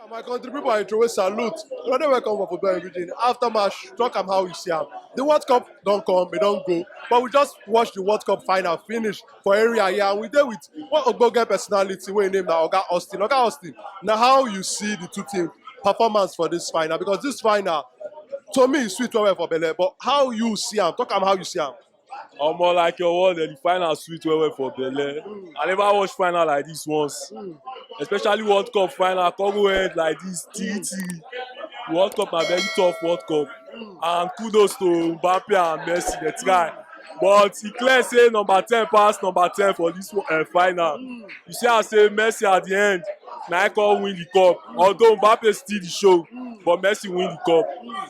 Ah, my country people I throw a salute. You're not welcome for football everything. After match, talk am how you see am. The World Cup don't come, it don't go. But we just watch the World Cup final finish for area here. And we there with one Ogboge personality, we name now Oga Austin. Oga Austin, now how you see the two teams performance for this final? Because this final, to me, is sweet well for Bele. But how you see am? Talk am how you see am. Omo like your word, eh, the final sweet well well for Bele. Mm. I never watch final like this once, mm. especially World Cup final. Come go ahead like this, TT. Mm. World Cup na very tough World Cup, mm. and kudos to Mbappe and Messi. They try, but e clear say number ten pass number ten for this uh, final. Mm. You see, I say Messi at the end na I come win the cup. Mm. Although Mbappe steal the show, mm. but Messi win the cup. Mm.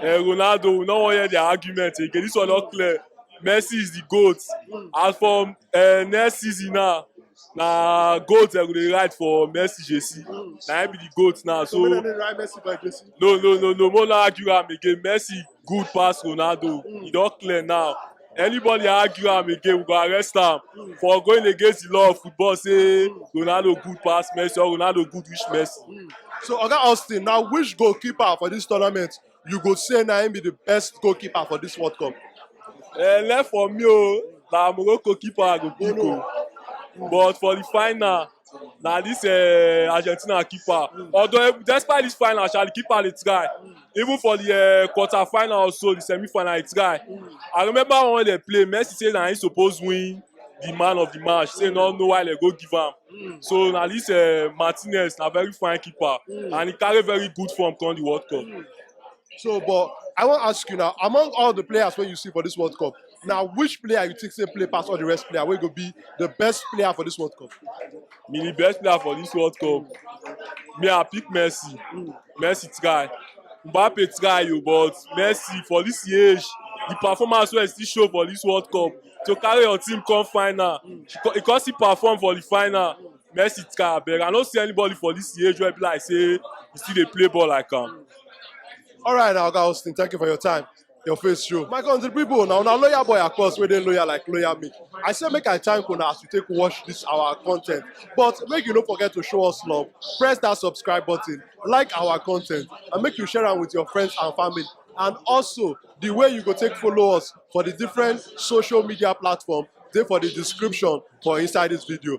Eh, Ronaldo, we no wan hear their argument again. This one not clear. Messi is the goat. As for uh, next season now, na goat dem go dey ride for Messi jersey. Na him be the goat now. So So make dem dey ride Messi by Jesse. no, no, no, no. More no argue am again. Messi good pass Ronaldo. E don clear now. Anybody argue am again, we go arrest am for going against the law of football say Ronaldo good pass Messi or Ronaldo good reach Messi. So Oga Austin, now which goalkeeper for this tournament you go say na him be the best goalkeeper for this World Cup? Uh, left for me o, na Morocco keeper I go pick o. But for the final, na this uh, Argentina keeper. Although despite this final, Charlie keeper dey try. Even for the uh, quarter final also, the semi final he try. I remember when they play, Messi say na he suppose win the man of the match. Say no know why they go give am. So na this uh, Martinez na very fine keeper and he carry very good form come the World Cup. So, but I want to ask you now, among all the players when you see for this World Cup, na which player you think say play pass all the rest player wey go be the best player for this World Cup? Me the best player for this World Cup. Me I pick Messi. Messi try. Mbappe try you, but Messi for this age, the performance wey he still show for this World Cup to carry your team come final. She co- He come still perform for the final. Messi try abeg. I no see anybody for this age wey be like say he still dey play ball like am. All right, now, Oga Austin, thank you for your time. your face show. My country people, now now loyal boy of course, where they loyal like loyal me. I say make I thank una as you take watch this our content. But make you no forget to show us love. Press that subscribe button, like our content, and make you share am with your friends and family. And also the way you go take follow us for the different social media platform, dey for the description for inside this video.